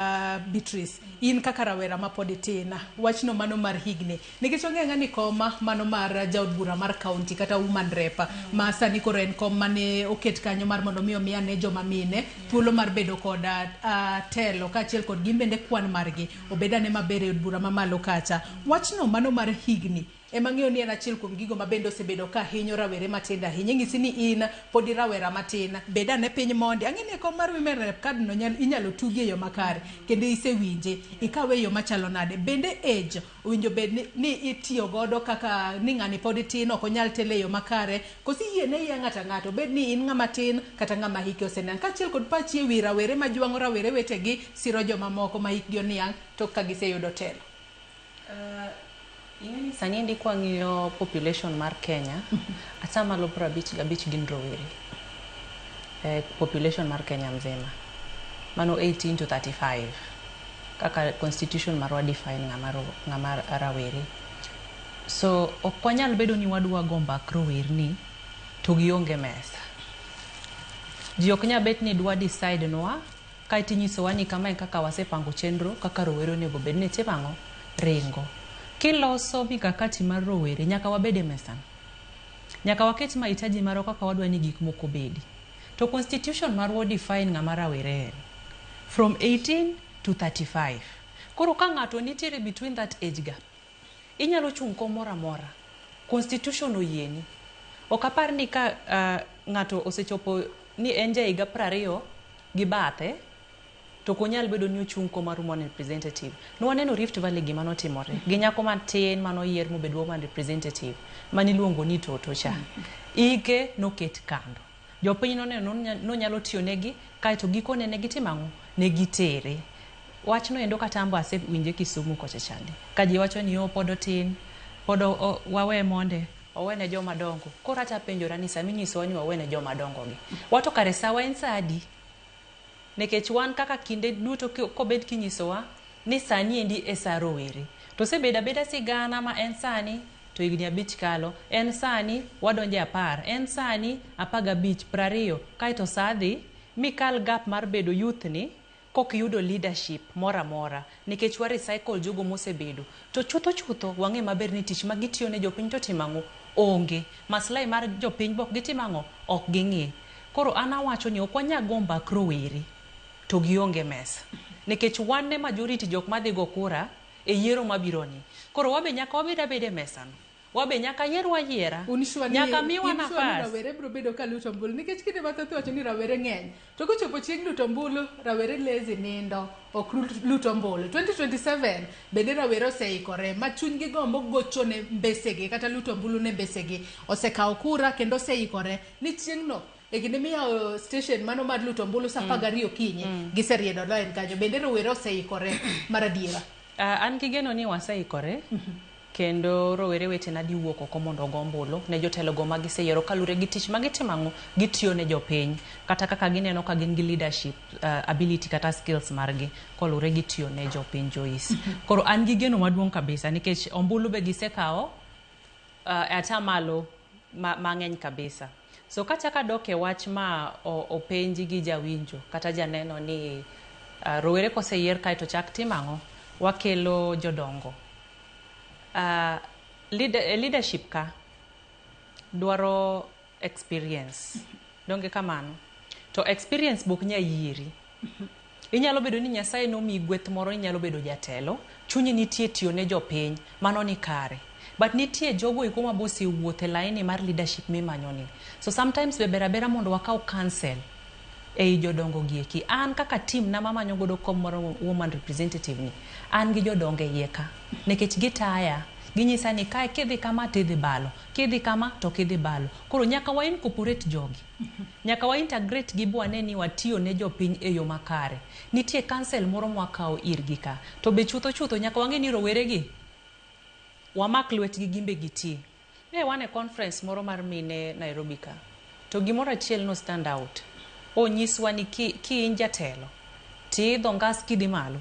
Beatrice, in kaka rawera ma pod itin, wachno mano mar higni, nikech wang'eyo ang'eya ni koma mano mar jaod bura mar kaunti kata woman rep ma sani koro en kom mane oket kanyo mar mondo mi omi ane joma mine thuolo mar bedo kod ah, telo kaachiel kod gin bende kwan margi obed ane maber e od bura mamalo kacha. Wachno mano mar higni Ema ng'eyo ni en achiel kuom gigo ma bende osebedo ka hinyo rawere matindo ahinya. Inyisi ni in pod irawera matin. Bed ane piny mondi. Ang'e ni e kom mar Women Rep kad no inyalo tugi e yo makare kendo isewinje. Ikawe e yo machalo nade? Bende age owinjo bed ni itiyo godo kaka ni ng'ani pod tin ok onyal telo e yo makare? Koso iyie ne iya ng'ato ang'ata obed ni in ng'ama tin kata ng'ama hike oseniang'? Kaachiel kod pachi e wi rawere ma jwang'o rawere wetegi, siro joma moko ma hikgi oniang' tok ka giseyudo telo. Ing'e ni sani endi kwang'iyo population mar Kenya, atamalo piero abich gabich gin rowere. Eh, population mar Kenya mzima. Mano 18 to 35. Kaka constitution marwa define ng'ama ro- ng'ama rawere. So ok wanyal bedo ni wadwa go mbak rowerni to gionge mesa. Ji ok nya bet ni dwa decide nwa Kae to inyisowa ni kama e kaka wasepango chenro kaka rowere onego bed ni itimo ang'o? Ringo. Kiloso mikakati mar rowere, nyaka wabed e mesano. Nyaka waket mahitaji marwa kaka wadwa ni gik moko obedi. To constitution marwa o define ng'ama rawere en. From 18 to 35. Koro ka ng'ato nitiere between that age gap, inyalo chung' komoro amora. Constitution oyieni. Ok apar ni ka ng'ato osechopo ni en ja higa piero ariyo, gi bathe to ok onyal bedo ni ochung' kom mar woman representative. Ne waneno Rift Valley gima notimore gi nyako matin mane oyier mobedo woman representative mane iluongo ni Toto cha. Ike noket kando. Jopiny noneno ni onyalo tiyo negi kaeto gikone ne gitimo ang'o? Ne gitere. Wachno endo kata an be asewinje Kisumu kocha chande ka ji wacho ni oh pod otin, pod wawe monde. Owene joma dongo. Koro acha penjora ni sama inyisowa ni wawene joma dongo gi, wa to kare sawa en saa adi? Nekech wan kaka kinde duto ki- kobed kinyisowa ni sani endi e saa rowere. To osebedo abeda sigana ma en sani to higni abich kalo, en sani wadonje apar, en sani apar gabich, prariyo, kaeto saa dhi mikal gap mar bedo youth ni kok yudo leadership moro amora nikech wa recycle jogo mosebedo to chutho chutho wang'e maber ni tich ma gitiyo ne jopiny to otimo ang'o? Onge. Maslahi mar jopiny be ok gitim ang'o? Ok ging'i. Koro an awacho ni ok wanyal go mbak rowere to gionge mesa nikech wan e majority jok madhi go kura e yiero mabironi. Koro wabe nyaka wabed abeda e mesano. Wabe nyaka yierwa ayiera. Uniswa ni nyaka miwa uniswa ni nafas. rawere biro bedo ka luto ombulu nikech kinde mathoth iwacho ni rawere ng'eny to kochopo chieng' luto ombulu rawere lezi nindo ok ru- lut ombulu 2027 bende rawere oseikore ma chunygi gombo gocho ne mbesegi kata luto ombulu ne mbesegi osekawo kura kendo oseikore ni chieng'no e kinde miyawo station mano mar luto ombulu sa apar gariyo okinyi giseriedo lain kanyo bende rowere oseikore mar adiera Ah, an gi geno ni waseikore Kendo rowere wetena diwuok oko mondo ogo ombulu ne jotelogo ma giseyiero kalure gi tich ma gitimo ang'o gitiyo ne jopiny kata kaka gineno ka gin gi leadership uh, ability kata skills margi kolure gi tiyo ne jopiny Joyce. Koro an gi geno maduong' kabisa nikech ombulu be gisekawo uh, atamalo ma, mang'eny kabisa. So kachak adok e wach ma openji gi jawinjo kata janeno ni rowere koseyier kaeto chak tim ang'o? Wakelo jodongo. E leadership ka dwaro experience, donge kamano? To experience be ok nya yieri. Inyalo bedo ni Nyasaye nomiyi gweth moro ni inyalo bedo jatelo, chunyi nitie tiyo ne jopiny, mano ni kare. But nitie jogo eko ma be osewuotho e laini mar leadership mimanyo ni. So sometimes be ber abera mondo wakaw counsel ei jodongo gi eki. An kaka team na mamanyo godo kom mar woman representative ni, an gi jodongo e iye ka. Nekech gitaya, ginyisa ni kae kidhi kama to idhi balo, kidhi kama to ok idhi balo. Koro nyaka wa incorporate jogi. Nyaka wa integrate gi bwane ni watiyo ne jopiny e yo makare. Nitie council moro mwakawo irgi ka. To be chutho chutho nyaka wang'e ni rowere gi wamak lwetgi gimbe giti. Ne wan e conference moro mar mine Nairobi ka. To gimoro achiel no stand out. Onyiswa ni ki ki in jatelo ti idho ngas kidhi malo.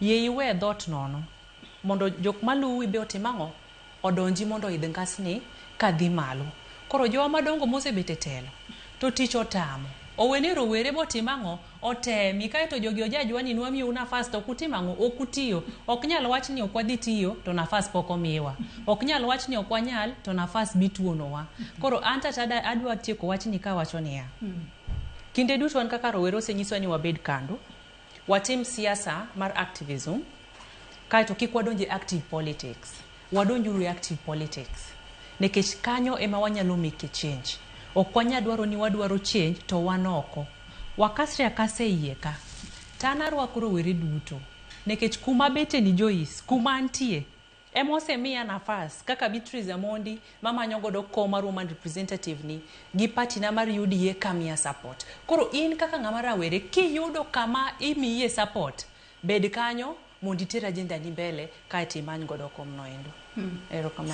Yie iwe e dhot nono mondo jok maluwi be otim ang'o? odonji mondo oidh ngasni ka dhi malo. Koro jowa madongo mosebet e telo to tich otamo. Owe ni rowere bo tim ang'o? Otemi kae to jogi ojajwa ni nwamiyou nafas to ok utim ang'o? Ok utiyo. Ok nyal wach ni ok wadhi tiyo to nafas pok omiwa. Ok nyal wach ni ok wanyal to nafas be ituonowa. Koro an to adwa tieko wachni ka awacho niya, kinde duto wan kaka rowere osenyisowa ni wabed kandu. Watim siasa mar activism kaeto kik wadonj e active politics. Wadonjuru e active politics nikech kanyo ema wanyalo make a change. Ok wanya dwaro ni wadwaro change to wan oko. Wakasre akasa e iye ka. To an arwako rowere duto nikech kuma abete ni Joyce, kuma antie, Ema osemiya nafas kaka Beatrice Amondi mamanyo godo kom mar woman representative ni gi party na mar UDA kamiya support. Koro in kaka ng'ama rawere kiyudo kama imiye support bed kanyo mondo iter agenda ni mbele kaeto imany godo kom noendo. Erokamano.